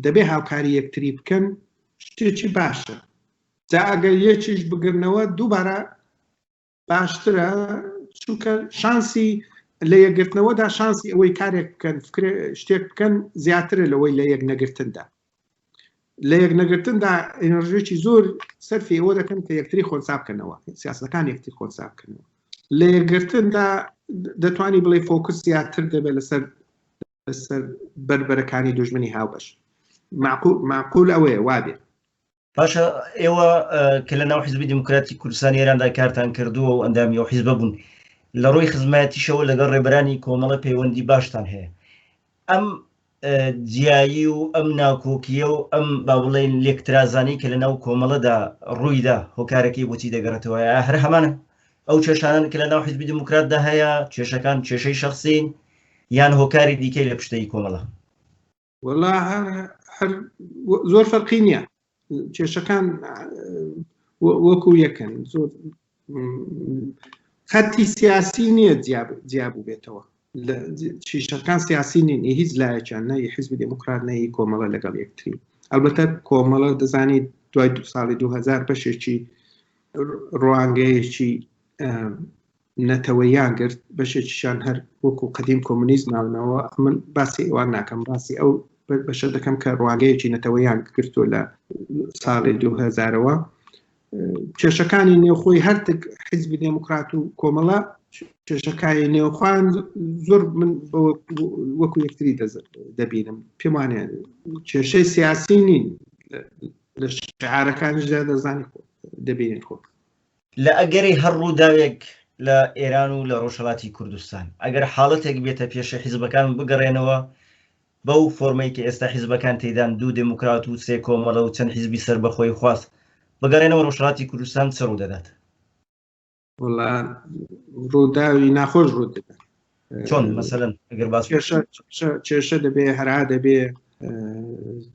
دەبێ هاوکاری یەکتری بکەن شتێکی باشە جاگە یەکیش بگرنەوە دووبارە باشترە چونکە شانسی لە یەکگرتنەوەدا شانسی ئەوەی کارێک بکەن شتێک بکەن زیاترە لەوەی لە یەک نەگرتندا لە یەک نەگرتندا ئەنرژێکی زۆر سەرفی ئەوە دەکەن کە یەکتری خۆنسا بکەنەوە سیاسەکان یەکتی خۆنسا بکەنەوە لە یەکگرتندا دەتوانانی بڵێ فۆکس زیاتر دەبێت لەسەر لەسەر بربەرەکانی دژمنی هاوبەش معقول ئەوەیە وابێت باشە ئێوە کە لە ناو حزبی دموکراتی کوردستان ئێراندا کارتان کردووە و ئەندامی و حیزبە بوون لە ڕووی خزمەتیشەوە لەگەڵ ڕێبرانی کۆمەڵە پەیوەندی باشتان هەیە ئەم جیایی و ئەم ناکۆکیە و ئەم با بڵێن لێکترازانی کە لە ناو کۆمەڵەدا ڕوویدا هۆکارەکەی بۆچی دەگەڕێتەوە هەر هەمانە ئەو کێشانان کە لە ناو حزبی دموکراتدا هەیە کێشەکان کێشەی شخصین یان هۆکاری دیکەی لە پشتەی کۆمەڵە وەڵا هەر زۆر فەرقی نییە کێشەکان وەکو یەکەن زۆر خەتی سیاسی نییە جیابوو بێتەوە چیشەکان سیاسی نین هیچ لایەکیان نەی حزبی دموکرات نەی کۆمەڵە لەگەڵ یەکتری ئەلبەتە کۆمەڵە دەزانی دوای دو ساڵی 2000 بەشێکی ڕوانگەیەکی نەتەوەییان گرت، بەشێکیشیان هەر وەکوو قەدیم کۆمۆنیست ماونەوە، من باسی ئەوان ناکەم، باسی ئەو بەشە دەکەم کە ڕوانگەیەکی نەتەوەییان گرتووە لە ساڵی دوو هەزارەوە. کێشەکانی نێوخۆی هەرتک حیزبی دێموکرات و کۆمەڵە کێشەکانی نێوخوان زۆر من وەکو یەکتری دەبینم پێم وانە کێشەی سیاسی نین لە شعارەکانیشدا دەزانی خۆ دەبینێت خۆ لە ئەگەری هەر ڕووداوێک لە ئێران و لە ڕۆژهەڵاتی کوردستان، ئەگەر حاڵەتێک بێتە پێشێ حیزبەکان بگەڕێنەوە بەو فۆرمەی کە ئێستا حیزبەکان تێیدان، دوو دێموکرات و سێ کۆمەڵە و چەند حیزبی سەربەخۆی خواز، بگەڕێنەوە ڕۆژهەڵاتی کوردستان چ ڕوودەدات؟ وەڵا ڕووداوی ناخۆش ڕوو دەدات. چۆن مەسەلەن ئەگەر باس کێشە دەبێ هەرا دەبێ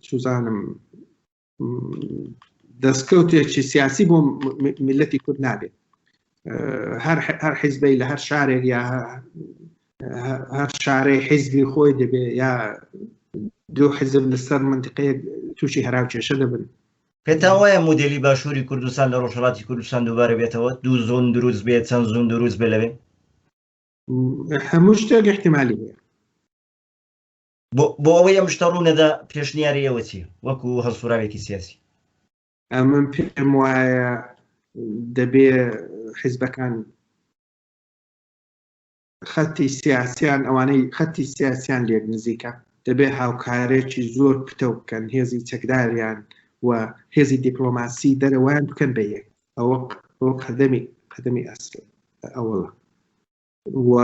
چوزانم دەستکەوتێکی سیاسی بۆ میلەتی کورد نابێت هەر حیزبەی لە هەر شارێک یا هەر شارەی حیزبی خۆی دەبێ یا دوو حزب لەسەر منتقەیە تووشی هەراو کێشە دەبن پێتا وایە مدلی باشووری کوردستان لە ڕۆژهڵاتی کوردستان دووبارە بێتەوە دوو زۆن دروست بێت چەند زۆن دروست بێ لەوێ هەموو شتێک احتمالی هەیە بۆ ئەوەی ئەم شتە ڕوونەدا پێشنیاری ئێوە چی وەکو هەڵسوراوێکی سیاسی ئەمن پێم وایە دەبێ حیزبەکان خەتی سیاسیان ئەوانەی خەتی سیاسیان لێک نزیکە دەبێ هاوکارێکی زۆر پتە بکەن هێزی چەکداریان و هێزی دیپلۆماسی دەرەوەیان بکەن بە یەک ئەوە قەدەمی قەدەمی ئەسل ئەوڵە و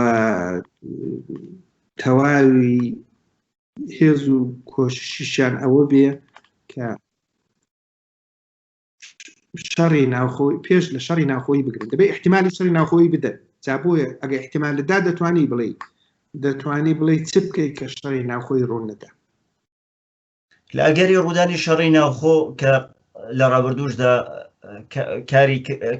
تەواوی هێز و کۆششیشان ئەوە بێ کە شەڕی ناوخۆی پێش لە شەڕی ناوخۆی بگرن دەبێ احتیممالی شەڕی ناوخۆی بدەن جابووە ئەگە احتیمال لەدا دەتوانی بڵێ دەتوانی بڵێ چ بکەیت کە شەڕی ناوخۆی ڕوون نەدا لە ئەگەری ڕوودانی شەڕی ناوخۆ کە لە ڕابردوشدا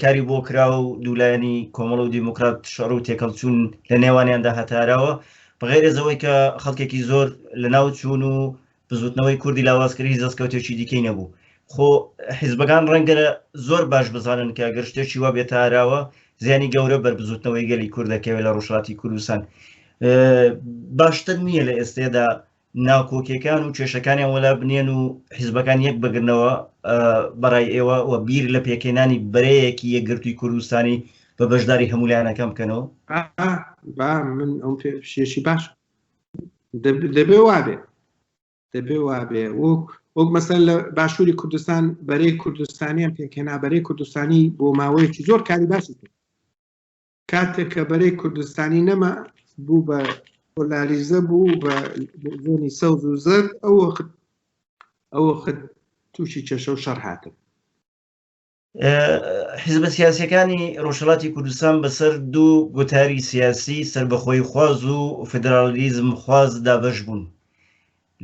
کاری بۆ کرا و دوولایەنی کۆمەڵ و دیموکرات شەڕ و تێکەڵچوون لە نێوانیاندا هەتاراوە بەغێرێزەوەی کە خەڵکێکی زۆر لە ناو چوون و بزوتنەوەی کوردی لاوازکردی دەستکەوتێکی دیکەی نەبوو خۆ حیزبەکان ڕەنگە زۆر باش بزانن کە گەر شتێکی وا بێتاراوە زیانی گەورە بەر بزوتنەوەی گەلی کوردەکەوێت لە ڕۆژهاتی کوردستان باشتر نییە لە ئێستێدا ناکۆکیەکان و کێشەکانیان وەلا بنێن و حیزبەکان یەک بگرنەوە بەڕای ئێوە و بیر لە پێکێنانی بەرەیەکی یەکگرتووی کوردستانی بە بەشداری هەمولایەنەکەم بکەنەوە با من ئەم پێشێکی باش دەبێ وابێ دەبێ وابێ وەک وەک مەسەر لە باشووری کوردستان بەرەی کوردستانیان پێکێنا بەرەی کوردستانی بۆ ماوەیەکی زۆر کاری باسی کرد کاتێک کە بەرەی کوردستانی نەما بوو بە پۆلاریزە بوو بە زۆنی سەوز و زەرد ئەو وەخت ئەو وەخت تووشی کێشە و شەڕ هاتن حزبە سیاسەکانی ڕۆژهڵاتی کوردستان بەسەر دوو گوتاری سیاسی سربەخۆی خواز و فدرالیزم خواز دابش بوون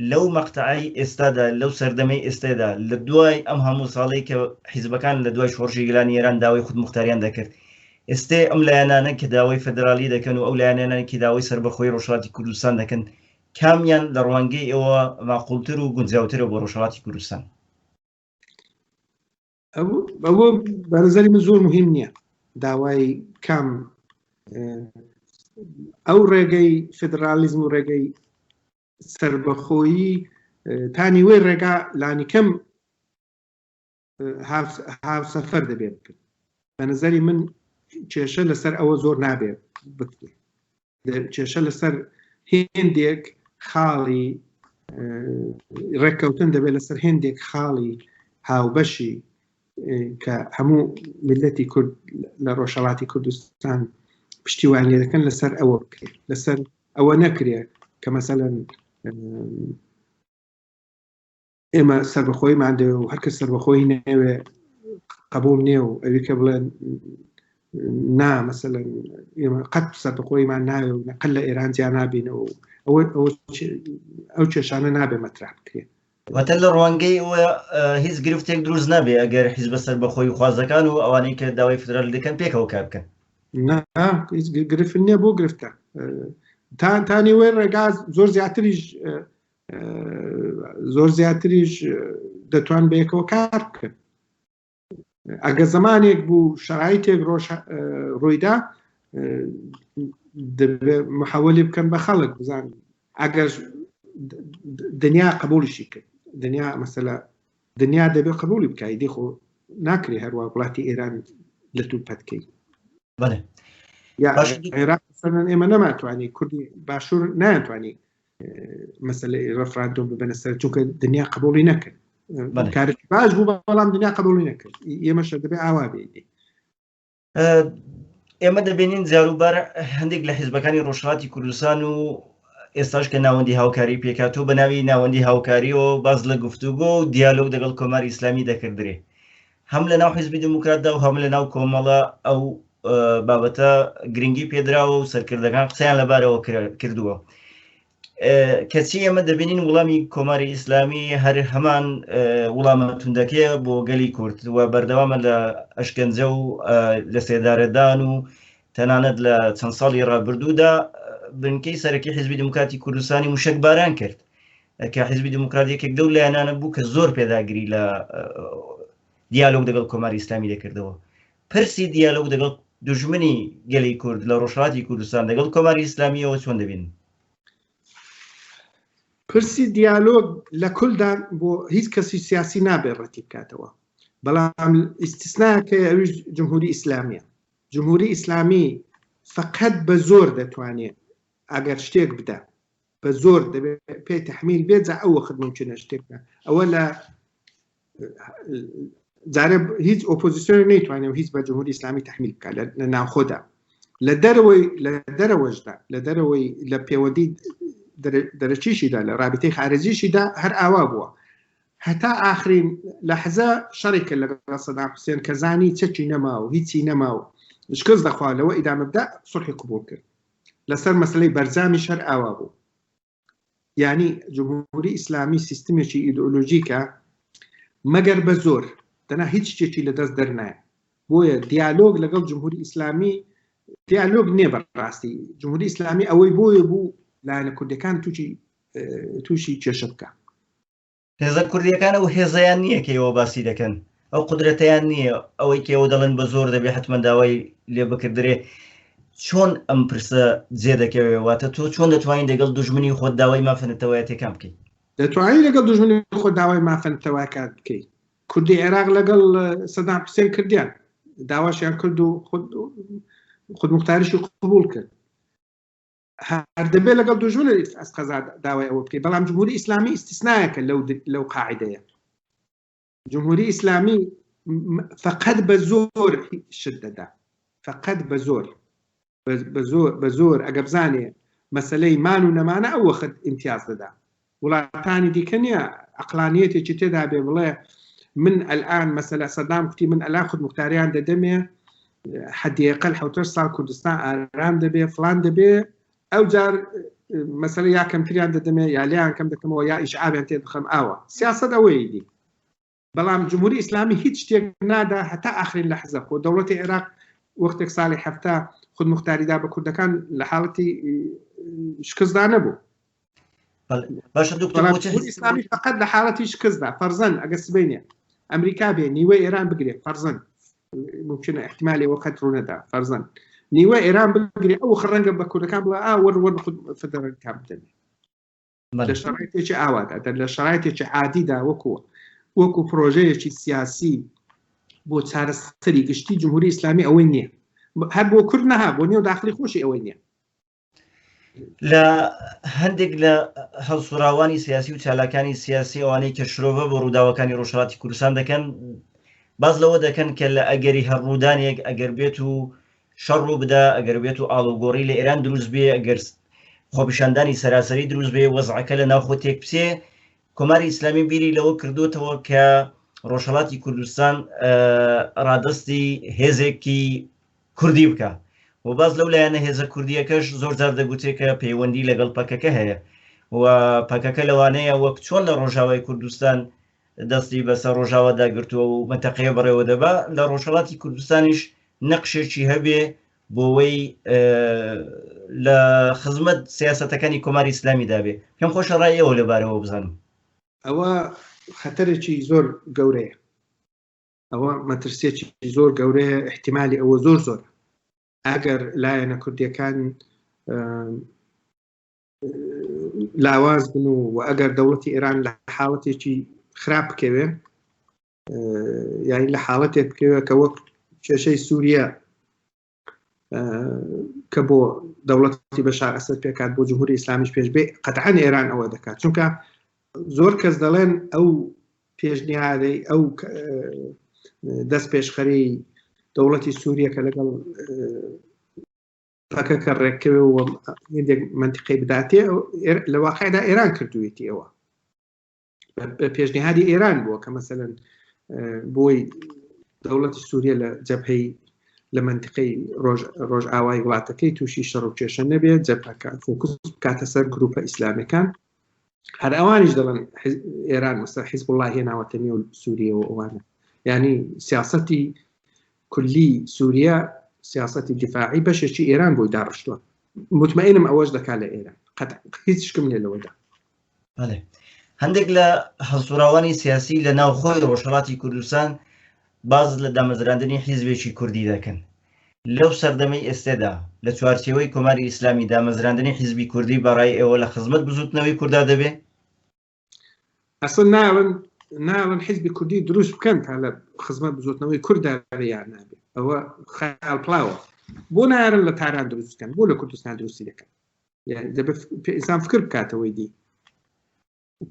لەو مەقتەعەی ئێستادا، لەو سەردەمەی ئێستێدا، لە دوای ئەم هەموو ساڵەی کە حیزبەکان لە دوای شۆڕشی گەلانی ئێران داوای خودموختاریان دەکرد، ئێستێ ئەم لایەنانە کە داوای فێدراڵی دەکەن و ئەو لایەنانە کە داوای سەربەخۆیی ڕۆژهەڵاتی کوردستان دەکەن، کامیان لە ڕوانگەی ئێوە ماقووڵتر و گونجاوترە بۆ ڕۆژهەڵاتی کوردستان؟ ئەوە بە نەزەری من زۆر مهم نییە داوای کام ئەو ڕێگەی فدرالیزم و ڕێگەی سەربەخۆیی تا نیوەی ڕێگا لانیکەم هاوسەفەر دەبێت بکرد بە نظری من کێشە لەسەر ئەوە زۆر نابێت بکرێت کێشە لەسەر هێندێک خاڵی ڕێککەوتن دەبێت لەسەر هێندێک خاڵی هاوبەشی کە هەموو ملەتی کورد لە ڕۆژهڵاتی کوردستان پشتیوان لێ دەکەن لەسەر ئەوە بکرێت لەسەر ئەوە نەکرێت کە مەسەلەن ئێمە سەربەخۆی مادەوە و هەرکە سەربەخۆی نەوێ قبول نیە و ئەوی کە بڵێن نا مەسەلەن ئێمە قەت سەربەخۆیمان ناوێ و نەقل لە ئێران جیا نابینەوە ئەوە ئەو کێشانە نابێ مەترا بکرێت واتە لە ڕوانگەی ئەوە هیچ گرفتێک دروست نابێ ئەگەر حیزبە سەربەخۆی خوازەکان و ئەوانەی کە داوای فدرال دەکەن پێکەوە کار بکەن نا هیچ گ- گرفت نییە بۆ گرفتە ئە، تا تا نیوەی ڕێگا زۆر زیاتریش ئە، ئە، زۆر زیاتریش ئە، دەتوان بەیەکەوە کار بکەن ئەگە زمانێک بوو شرایتێک ڕۆژ ڕوویدا محەوەلی بکەن بە خەڵک بزان ئەگەر دنیا قبولشی کرد دنیا مەسەلا دنیا دەبێت قبولی بکای دیخۆ ناکرێ هەروە وڵاتی ئێران لە تو پەتکەی ئێمە نەماتوانی کوردی باشوور ناتوانانی مەسلەی ڕفراندۆم ببەنە سەر چونکە دنیا قبولی نەکرد کارت باش بوو بەڵام دنیا قبولی نەکرد ئێمەشە دەبێ ئاوا بێنی ئێمە دەبینین جاروبار هەندێک لە حیزبەکانی ڕۆژهاتی کوردستان و ئێستاش کە ناوەندی هاوکاری پێکاتۆ بە ناوی ناوەندی هاوکاری و باز لە گفتوگۆ و دیالۆگ دەگەڵ کۆماری ئیسلامی دەکردرێ هەم لە ناو حیزبی دموکراتدا و هەم لە ناو کۆمەڵە ئەو بابەتە گرنگی پێدراوە و سەرکردەکان قسەیان لەبارەوە کردووە کەچی ئەمە دەبینین وڵامی کۆماری ئیسلامی هەر هەمان وڵامە توندەکەیە بۆ گەلی کورد و بەردەوامە لە ئەشکەنجە و لە سێدارەدان و تەنانەت لە چەند ساڵی ڕابردوودا بنکەی سەرەکی حزبی دموکاتی کوردستانی موشک باران کرد کە حیزبی دیموکرات یەکێک دەو لایەنانە بوو کە زۆر پێداگری لە دیالۆگ دەگەڵ کۆماری ئیسلامی دەکردەوە پرسی دیالۆگ دەگەڵ دژمنی گەلی کورد لە ڕۆژهاتی کوردستان دەگەڵ کۆماری ئیسلامیەوە چۆن دەبین پرسی دیالۆگ لە کولدا بۆ هیچ کەسی سیاسی نابێت ڕەتی بکاتەوە بەڵام ئیسیسناکە ئەویش جمهوری ئیسلامیە جمهوری ئیسلامی فقط بە زۆر دەتوانێت ئەگەر شتێک بدە بە زۆر دەبێت پێ تحمیل بێت جا ئەو وەخت ممکنە شتێکە ئەوە لە جارێ هیچ ئۆپۆزیسیۆن نەیتوانێت و هیچ بە جمهوری ئسلامی تحمیل بکە لە ناوخۆدا لە دەرەوەی لە دەرەوەشدا لە دەرەوەی لە پێوەدی دەرەچیشیدا لە رابطەی خارجیشیدا هەر ئاوا بووە هەتا ئاخرین لە حەزە شەڕێکە لە سەدا حوسێن کەزانی چەکی نەما و هیچی نەما و شکست دەخوا لەوە ئیدامەدا سوحی قوبول کرد لەسەر مەسەلەی بەرجامیش هەر ئاوا بوو یانی جمهوری ئیسلامی سیستمێکی ئیدئۆلۆژیکە مەگەر بە زۆر دەنا هیچ شتێکی لە دەست دەرنایە بۆیە دیالۆگ لەگەڵ جمهوری ئیسلامی دیالۆگ نییە بەڕاستی جمهوری ئیسلامی ئەوەی بۆیە بوو لایەنە کوردەکان تووشی تووشی کێشە بکە هێزە کوردیەکان ئەو هێزەیان نییە کە ئێوە باسی دەکەن، ئەو قودرەتەیان نییە، ئەوەی کە ئێوە دەڵێن بە زۆر دەبێ حەتمەن داوای لێ بکردرێ، چۆن ئەم پرسە جێ دەکەوێ؟ واتە تۆ چۆن دەتوانین دەگەڵ دوژمنی خۆت داوای مافە نەتەوایەتیەکان بکەی؟ دەتوانین لەگەڵ دوژمنی خۆت داوای مافە نەتەوایەکان بکەی؟ کوردی عێراق لەگەڵ سەدام حوسێن کردیان، داواشیان کرد و خودموختاریشی قبوڵ کرد. هەردەبێ لەگەڵ دوژمن ئەس قەزا داوای ئەوە بکەیت بەڵام جمهوری ئیسلامی ئیسیسنایەکە لەو لەو قاعدەیە جمهوری ئیسلامی فقط بە زۆر شت دەدا فقط بە زۆر بە زۆر بە زۆر ئەگە بزانێ مەسلەی مان و نەمانە ئەو وەخت امتیاز دەدا وڵاتانی دیکە نیە ئەقلانیەتێکی تێدا بێ بڵێ من ئەلئان مەسەلە سەدام کوتی من ئەلان خودمختاریان دەدەمێ حدیقل حوتە سال کوردستان ئارام دەبێ فلان دەبێ ئەو جار مەسەر یا کەمتریان دەدەمێ یا لیان کەم دەکەمەوە یا ئیشعابیان تێ بخەم ئاوە سیاست ئەوەیدی بەڵام جمهوری ئیسلامی هیچ شتێک نادا هەتا ئاخرین لە حزە خۆ دەوڵەتی عێراق وەختێک ساڵی هەفتا خود مختاریدا بە کوردەکان لە حاڵەتی شکستدا نەبوو ئسلامی فقط لە حاڵەتی شکستدا فەرزەن ئەگە سبینێ ئەمریکا بێ نیوە ئێران بگرێت فەرزن ممکن احتمالی وەخت ڕوونەدا فەرزن نیوە ئێران بگرێت ئەو خڕەنگە بە کوردەکان بڵ ئا وەروەر فدەرەکان بدەنێ لە شەڕێکی ئاوادا دەر لە شەڕایەتێکی عادیدا وەکو وەکو پرۆژەیەکی سیاسی بۆ چارەسەری گشتی جمهوری ئیسلامی ئەوەی نییە هەر بۆ کورد نەها بۆ نیێو داخلی خۆشی ئەوەی نییە لە هەندێک لە هەڵسوراوانی سیاسی و چالاکانی سیاسی ئەوانەی کە شرۆڤە بۆ ڕووداوەکانی ڕۆژهڵاتی کوردستان دەکەن باز لەوە دەکەن کە لە ئەگەری هەر ڕوودانێک ئەگەر بێت و شەڕ ڕوو بدا ئەگەر بێت و ئاڵوگۆڕی لە ئێران دروست بێ ئەگەر خۆپیشاندانی سەراسەری دروست بێ وەزعەکە لە ناوخۆ تێک بچێ کۆماری ئیسلامی بیری لەوە کردوتەوە کە ڕۆژهڵاتی کوردستان ڕادستی هێزێکی کوردی بکە و باز لەو لایەنە هێزە کوردیەکەش زۆر زار دەگوترێت کە پەیوەندی لەگەڵ پەکەکە هەیە و پەکەکە لەوانەیە وەک چۆن لە ڕۆژاوای کوردستان دەستی بەسەر ڕۆژاوادا گرتووە و مەنتەقەیە بەڕێوەدەبا، لە ڕۆژهەڵاتی کوردستانیش نەقشێکی هەبێ بۆوەی لە خزمەت سیاسەتەکانی کۆماری ئیسلامیدا بێ، پێم خۆشە ڕای ئێوە لەبارەوە بزانم. ئەوە خەتەرێکی زۆر گەورەیە، ئەوە مەترسیەکی زۆر گەورەیە، ئیحتیمالی ئەوە زۆر زۆرە ئەگەر لایەنە کوردیەکان لاواز بن و و ئەگەر دەوڵەتی ئێران لە حاڵەتێکی خراپ بکەوێ یانی لە حاڵەتێک بکەوێت کە وەک کێشەی سووریە کە بۆ دەوڵەتی بە شارەسەر پێکات بۆ جمهوری ئسلامیش پێش بێ قەتعان ئێران ئەوە دەکات چونکە زۆر کەس دەڵێن ئەو پێشنیارەی ئەو دەست پێشخەری دەوڵەتی سووریە کە لەگەڵ پەکەکە ڕێککەوێ و هندێک منتیقی بداتێ لە واقعدا ئێران کردوێتی ئەوە بە پێشنیهادی ئێران بووە کە مەسەن بۆی دەوڵەتی سووریە لە جەپەی لە منتیقی ڕۆژ ئاوای وڵاتەکەی تووشی شەڕ و کێشە نەبێت جەپەکە فۆکس بکاتە سەر گروپە ئیسلامەکان هەر ئەوانیش دەڵن ئێران مەسەر حیزب وڵی هێناوەتە نێو سووریەوە ئەوانە ینی سیاستی کولی سوریا سیاسەتی دیفاعی بەشێکی ئێران بۆی داڕشتووە مطمئنم ئەوەش دەکات لە ئێران قەت هیچ شکم لێ لەوەدا هەندێک لە هەڵسوراوانی سیاسی لە ناوخۆی ڕۆژهڵاتی کوردستان باز لە دامەزراندنی حیزبێکی کوردی دەکەن لەو سەردەمی ئێستێدا لە چوارچەوەی کۆماری ئیسلامی دامەزراندنی حیزبی کوردی بەڕای ئێوە لە خزمەت بزوتنەوەی کوردا دەبێ ئەسڵ ناون ناون حزبی کوردی دروست بکەن تا لە خزمەت بزۆتنەوەی کوردا یان نابێت ئەوە خیال پلاوە بۆ نارن لە تاران دروست بکەن بۆ لە کوردستان دروستی دەکەن ئسان فکر بکاتەوەی دی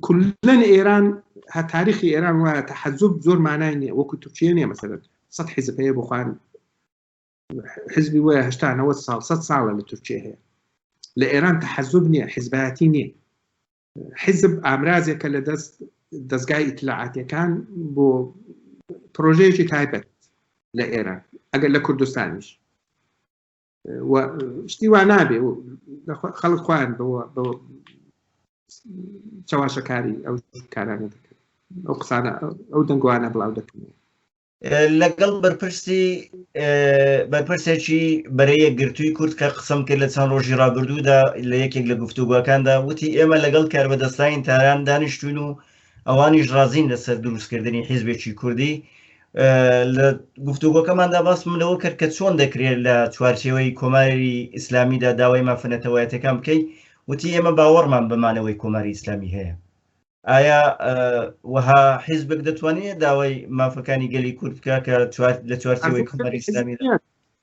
کلەن ئێران هە تاریخی ئێران وایە تە حەزوب زۆر مانای نیە وەکو تورکیە نیە مەسەرەت سە حیزبەیە بخوان حزبی وایە هشتانەوە ساڵ سە ساڵە لە تورکیە هەیە لە ئێران تە حەزوب نیە حزبایەتی نیە حیزب ئامرازێکە لە دەست دەستگای ئیتلاعاتەکان بۆ پرۆژەیەکی تایبەت لە ئێران ئەگەر لە کوردستانیش شتی وا نابێ خەڵک خۆیان چاواشەکاری ئەو کارانە دەکەن ئەو قسانە ئەو دەنگوانە بڵاو دەکەن لەگەڵ بەرپرسی بەرپرسێکی بەرەیە گرتووی کورد کە قسم کرد لە چەند ڕۆژی ڕابردوودا لە یەکێک لە گفتوگوەکاندا وتی ئێمە لەگەڵ کاربەدەستانی تاران دانیشتون و ئەوانیش ڕازین لەسەر دروستکردنی حیزبێکی کوردی لە گفتوگۆکەماندا باسم لەوە کرد کە چۆن دەکرێت لە چوارچێوەی کۆماری ئیسلامیدا داوای مافەنەتەوایەتەکان بکەیت وتی ئێمە باوەڕمان بەمانەوەی کۆماری ئیسلامی هەیە ئایا وەها حیزبێک دەتوانێت داوای مافەکانی گەلی کورد بکە کە لە چوارچەوەی کومەری ئسلامی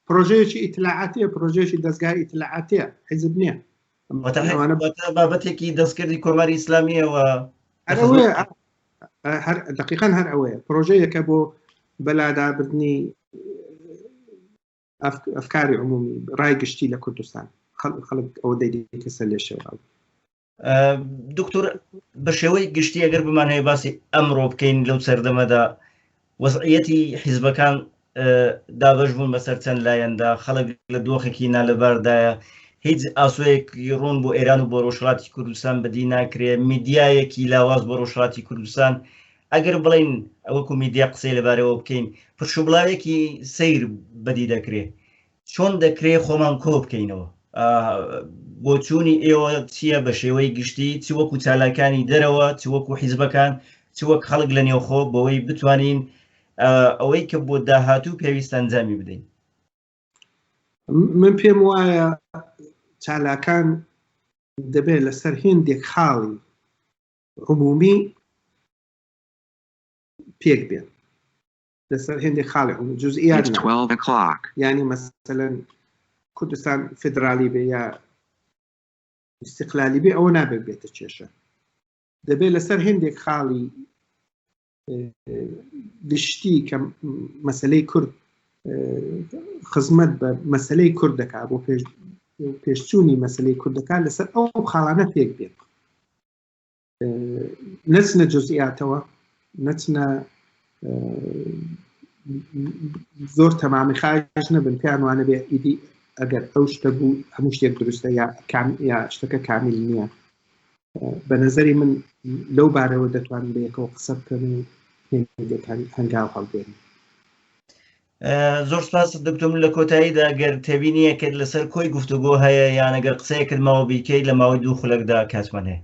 پرۆژەیەکی ئیتلاعاتە پرۆژێکی دەستگای ئیتلاعاتە حیزب نییە بابەتێکی دەستکردی کۆماری ئیسلامیەوە هەر دقیقان هەر ئەوەیە پرۆژەیەکە بۆ بەلادابردنی ئەفکاری عمومی ڕای گشتی لە کوردستان خەڵک ئەو دەیدی کەسە لێشێوە دکتۆر بە شێوەی گشتی ئەگەر بمانەیە باسی ئەمڕۆ بکەین لەو سەردەمەدا وەزعەتی حیزبەکان دابش بوون بەسەر چەند لایەندا خەڵک لە دۆخێکی نالەباردایە هیچ ئاسوەیەکی ڕوون بۆ ئێران و بۆ ڕۆژهڵاتی کوردستان بەدی ناکرێ میدیایەکی لاواز بۆ ڕۆژهڵاتی کوردستان ئەگەر بڵین ئەوەکو میدیا قسەی لەبارەوە بکەین پرشوبڵاوێکی سیر بەدی دەکرێ چۆن دەکرێ خۆمان کۆ بکەینەوە؟ بۆچوونی ئێوە چییە بە شێوەی گشتی چ وەکو چالاکانی دەرەوە چ وەکو حیزبەکان چ وەک خەڵک لە نێوخۆ بەوەی بتوانین ئەوەی کە بۆ داهاتوو پێویست ئەنجامی بدەین من پێم وایە چالاکان دەبێت لەسەر هێندێک خاڵی عمومی پێک بێن لەسەر هێندێک خاڵێک هەن جزئیات It's 12 o'clock. یعنی مەسەلە کوردستان فدرالی بێ یا استقلالی بێ ئەوە نابێت بێتە کێشە دەبێت لەسەر هێندێک خاڵی گشتی کە مەسلەی کورد خزمەت بە مەسلەی کورد دەکات بۆ پێش پێشچوونی مەسلەی کورد دەکات لەسەر ئەو خاڵانە پێک بێت نەچنە جزئیاتەوە نەچنە زۆر تەمامی خاش نەبن پێیان وانە بێ ئیدی ئەگەر ئەو شتە بوو هەموو شتێک دروستە یا کام یا شتەکە کامیل نییە بە نظری من لەو بارەوە دەتوانین بەیەکەوە قسە بکەن و هەنگاو هەڵبێن زۆر سپاس دکتۆر من لە کۆتاییدا گەر تێبینیەکرد لەسەر کۆی گفتوگۆ هەیە یانەگەر قسەیە کردمەوە بیکەیت لە ماوەی دوو خولەکدا کاتمان هەیە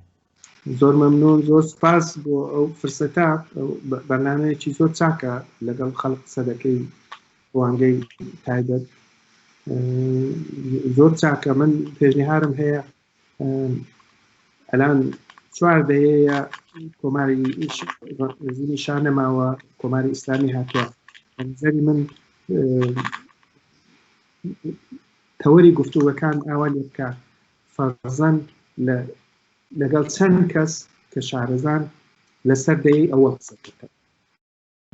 زۆر مەمنون زۆر سپاس بۆ ئەو فرسەتا بەنامەیەکی زۆر چاکە لەگەڵ خەڵق قسە دەکەی ڕوانگەی تایبەت زۆر چاکە من پێشنیهارم هەیە ئەلان چوار دەیەیە کۆماری ڕژیمی شا نەماوە کۆماری ئیسلامی هاتووە زەری من تەوەری گفتوگەکان ئاوا لێ بکە فەرزەن لەگەڵ چەند کەس کە شارەزان لەسەر دەی ئەوە قسە بکە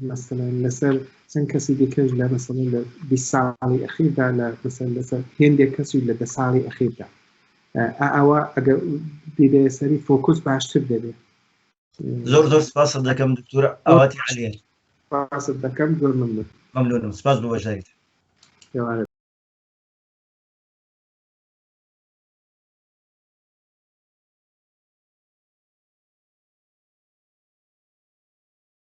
مەسەلەن لەسەر چەند کەسی دیکەش لە مەسەن لە بی ساڵی ئەخیردا لە مەسەن لەسەر هێندێک کەسی لە دە ساڵی ئەخیردا ئەوە ئەگەر دیدە سەری فۆکوس باشتر دەبێت زۆر زۆر سپاس دەکەم دکتور ئاواتی علیە سپاس دەکەم زۆر ممنون ممنونم سپاس بۆ بەشداریت